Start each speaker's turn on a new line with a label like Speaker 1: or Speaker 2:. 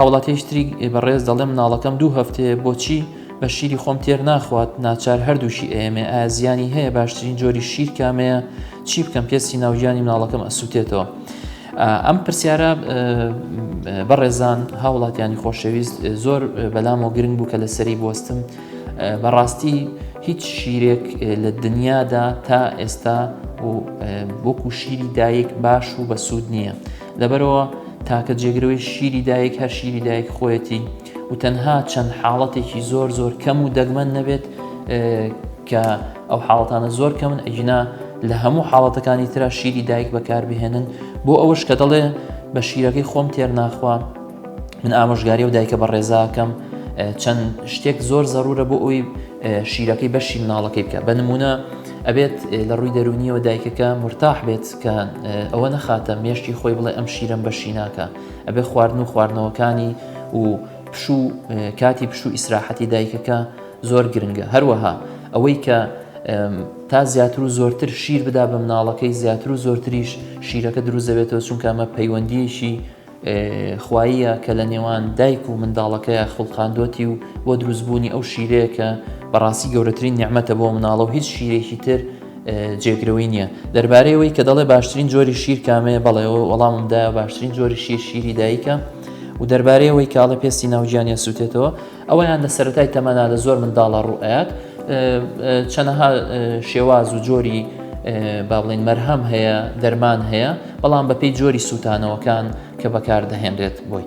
Speaker 1: هاوڵاتیەکی تریک بەڕێز دەڵێ مناڵەکەم دوو هەفتەیە بۆچی بە شیری خۆم تێر ناخوات ناچار هەردووشی ئەیەمێ ئازیانی هەیە باشترین جۆری شیر کامەیە چی بکەم پێستی ناوگیانی مناڵەکەم ئەسووتێتەوە. ئەم پرسیارە بەڕێزان هاوڵاتیانی خۆشەویست زۆر بەلام و گرنگ بوو کە لەسەری بستم بەڕاستی هیچ شیرێک لە دنیادا تا ئێستا و وەکو شیری دایک باش و بەسوود نییە. لەبەرئەوە تاکە جێگرەوەی شیری دایک هەر شیری دایک خۆیەتی و تەنها چەند حاڵەتێکی زۆر زۆر کەم و دەگمەن نەبێت کە ئەو حاڵەتانە زۆر کەمن ئەگینا لە هەموو حاڵەتەکانی تررا شیری دایک بەکاربهێنن بۆ ئەوەش کە دەڵێ بە شیرەکەی خۆم تێر ناخوا من ئامۆژگاری و دایکە بە ڕێزاکەم چەند شتێک زۆر زەرورە بۆ ئەوی شیرەکەی بەشی مناڵەکەی بکە بە نمونە ئەبێت لە ڕووی دەرونیەوە دایکەکە مرتاح بێت کە ئەوە نەخاتە مێشتی خۆی بڵێ ئەم شیرم بەشی ناکە ئەبێ خواردن و خواردنەوەکانی و پشوو کاتی پشوو ئیسراحەتی دایکەکە زۆر گرنگە هەروەها ئەوەی کە تا زیاتر و زۆرتر شیر بدا بە مناڵەکەی زیاتر و زۆرتریش شیرەکە دروزەبێتەوە چونکە ئەمە پەیوەندیەکی خواییە کە لە نێوان دایک و منداڵەکەیا خوڵقاندوەتی و بۆ دروست بوونی ئەو شیرەیە کە بەڕاستی گەورەترین نیعمەتە بۆ مناڵە و هیچ شیرێکی تر جێگرەوەی نییە دەربارەی ئەوەی کە دەڵێ باشترین جۆری شیر کامەیە بەڵێ وەڵامم دایە باشترین جۆری شیر شیری دایکە و دەربارەی ئەوەی کاڵە پێستی ناوگیانیان سووتێتەوە ئەوەیان لە سەرەتای تەمەنا لە زۆر منداڵە ڕوئات چەنەها شێواز و جۆری با بڵین مەرهەم هەیە دەرمان هەیە بەڵام بەپی جۆری سووتانەوەکان کە بەکاردەهێنرێت بۆی.